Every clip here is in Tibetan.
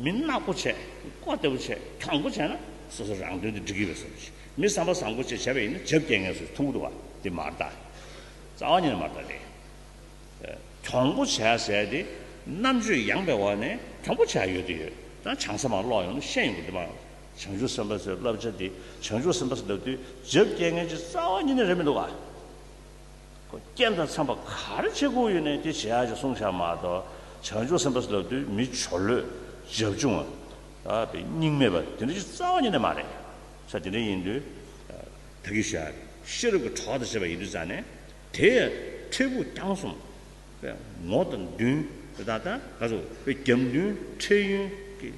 མི་སྣ་སྒོ་ཕྱེ། སྒོ་ལྟ་བུ་ཕྱེ། ཁྱང་སྒོ་ཕྱེ་ན། སོ་སོ་རང་དོན་དུ་འགྲིག་གི་ཡོད་ཟེར་བ་བཞིན། མི་བསམ་པ་བཟང་སྒོ་ཕྱེ་བྱས་པ་ཡིན་ན་བྱབ་རྒྱལ་ངལ་གསོའི་ཐུགས་ཁུར་བ་དེ་མར་བལྟ། རྩ་བ་ཉིད་ནས་མར་བལྟ་སྟེ། གྱོང་སྒོ་ཕྱེ་ཟེར་ཏེ། རྣམ་དཔྱོད་ཡངས་པའི་འོག་ནས་གྱོང་སྒོ་ཕྱེ་ཡོད་དེ་ཡོད། ད་བྱང་ས་མང་ཀློག་ཡོང་ན་ཤེས་ཡོང་གི་འདུག་མང། བྱང་ཆུབ་སེམས་དཔའ་ཚོའི་བསླབ་བྱ་འདི་བྱང་ཆུབ་སེམས་དཔའ་སུ་ལབ་དུས་བྱབ་རྒྱལ་ངལ་གྱི་རྩ་བ་ཉིད་ནས་རེད་མི་འདུག་ག། རྐྱེན་དང་འཚམས་པ་ག་རེ་བྱེད་དགོས་ཡོད་ནས་དེ་བྱེད་ཡག་ཅེས་གསུངས་བྱ་མ་གཏོགས་བྱང་ཆུབ་སེམས་དཔའ་ལབ་དུས་མི་ཆོ་ལོས་རྒྱབ་ཆུང་བ། སྙིང་མེད་པ་དེ་འདྲ་ཞིག་རྩ་བ་ཉིད་ནས་མ་རེད། ས་དེ་འདྲ་ཡིན་དུས། ད་གིས་ཤར་ཤེས་རབ་ཀྱི་གྲོགས་དང་བཅས་པ་ཡིན་དུས་རྩ་ནས་དེ་ཡང་ཁྲེས་པུ་རྐྱང་གསུམ། ངོ་དང་བདུན། རྒྱ་མདུན་ཁྲེས་ཡུན་གྱི།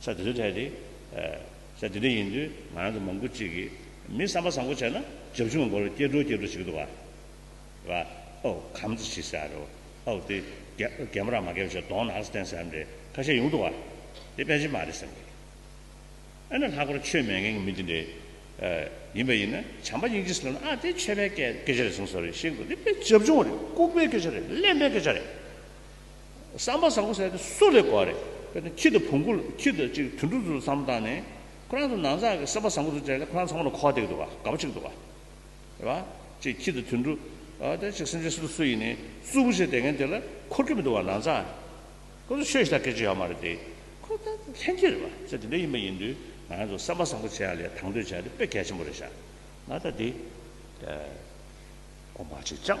ས་དེ་ཚོའི་ཐད་དེ། ས་དེ་འདྲ་ཡིན་དུས་ང་རང་ཚོ་མང་པོ་ཅིག་གིས་མི་བསམ་པ་བཟང་པོ་བྱས་ན་རྒྱབ་ཆུང་བ་མགོ་ལ་སྐྱེ་འགྲོ་སྐྱེ་འགྲོ་བྱེད་ཀྱི་འདུག་བ། ཨོ། གམ་ཚོ་ཞིག་ཟེར་ཡ་རེད་བ། ཨོ་དེ། རྒན་པོ་རང་མ་ཁེབས་ཞོར་གདོང་ནག་སྟེང་ཟེར་ཡམ་རེད་ཁ་ཤས་ཡོང་འདུག་བ། དེ་དཔེ་ཇི་མ་རེད་སེམས་ཀྱི། ཨ་ནི་ལྷག་པར་ཆོས་མེད་མཁན་གྱི་མི་དེ་འདྲས། ཡིན་པ་ཡིན་ན་བྱམས་པ་སྙིང་རྗེ་སེམས་ལ་ཨ་དེ་ཆོས་པའི་སྐད་ཆ་རེད་གསུངས་སོ་རེད་ཤེས་གི་འདུག་དེ་དཔེ་ཇབ་ཆུང་བ་རེད་ལྐུགས་པའི་སྐད་ཆ་རེད་གླེན་པའི་སྐད་ཆ་རེད། བསམ་པ་བཟང་པོ་ཟེར་དེ་སུ་ལས་གོ་བ་རེད་དཔེར་ན་ཁྱི་དང་བོང་གུ་ཁྱི་དང་གཅིག་དུད་འགྲོ་ཚུལ་བསམ་བློ་བཏང་ནས་ཁོ་རང་ཚོ་ནང་ཚགས་ཀྱི་བསམ་པ་བཟང་པོ་ཚུལ་བྱས་ལ་ཁོ་རང་ཚང་མ་ལ་གོ་བ་འདེགས་འདུག་བ་དགའ་པོ་ཆགས་འདུག་བ་རེད་བ། ཅེས་ཁྱི་དང་དུད་འགྲོ་ཨ་དེ་ཅིག་སེམས་ཅན་སུ་དང་སུ་ཡིན་ནས་རྩུབ་པོ་བྱས་བསྡད་མཁན་དེ་ལ་འཁོར་གྱི་མི་འདུག་བ་ནང་ཚགས་ཁོ་ཚོ་ཆོས་ཞེ་ཐག་སྐད་ཆ་ཡོད་མ་རེད་དེ་ཁོ་ད་ལྷན་སྐྱེས་རེད་བ་ཚེ་དེ་འདྲ་ཡིན་པ་ཡིན་དུས་ང་རང་ཚོ་བསམ་པ་བཟང་པོ་བྱས་ཡ་ལས་དང་དོད་བྱས་དེ་དཔེ་གལ་ཆེན་པོ་རེད་བཞག་ང་ད་དེ་ལྟར་གོ་མ་བྱེད་ཅང།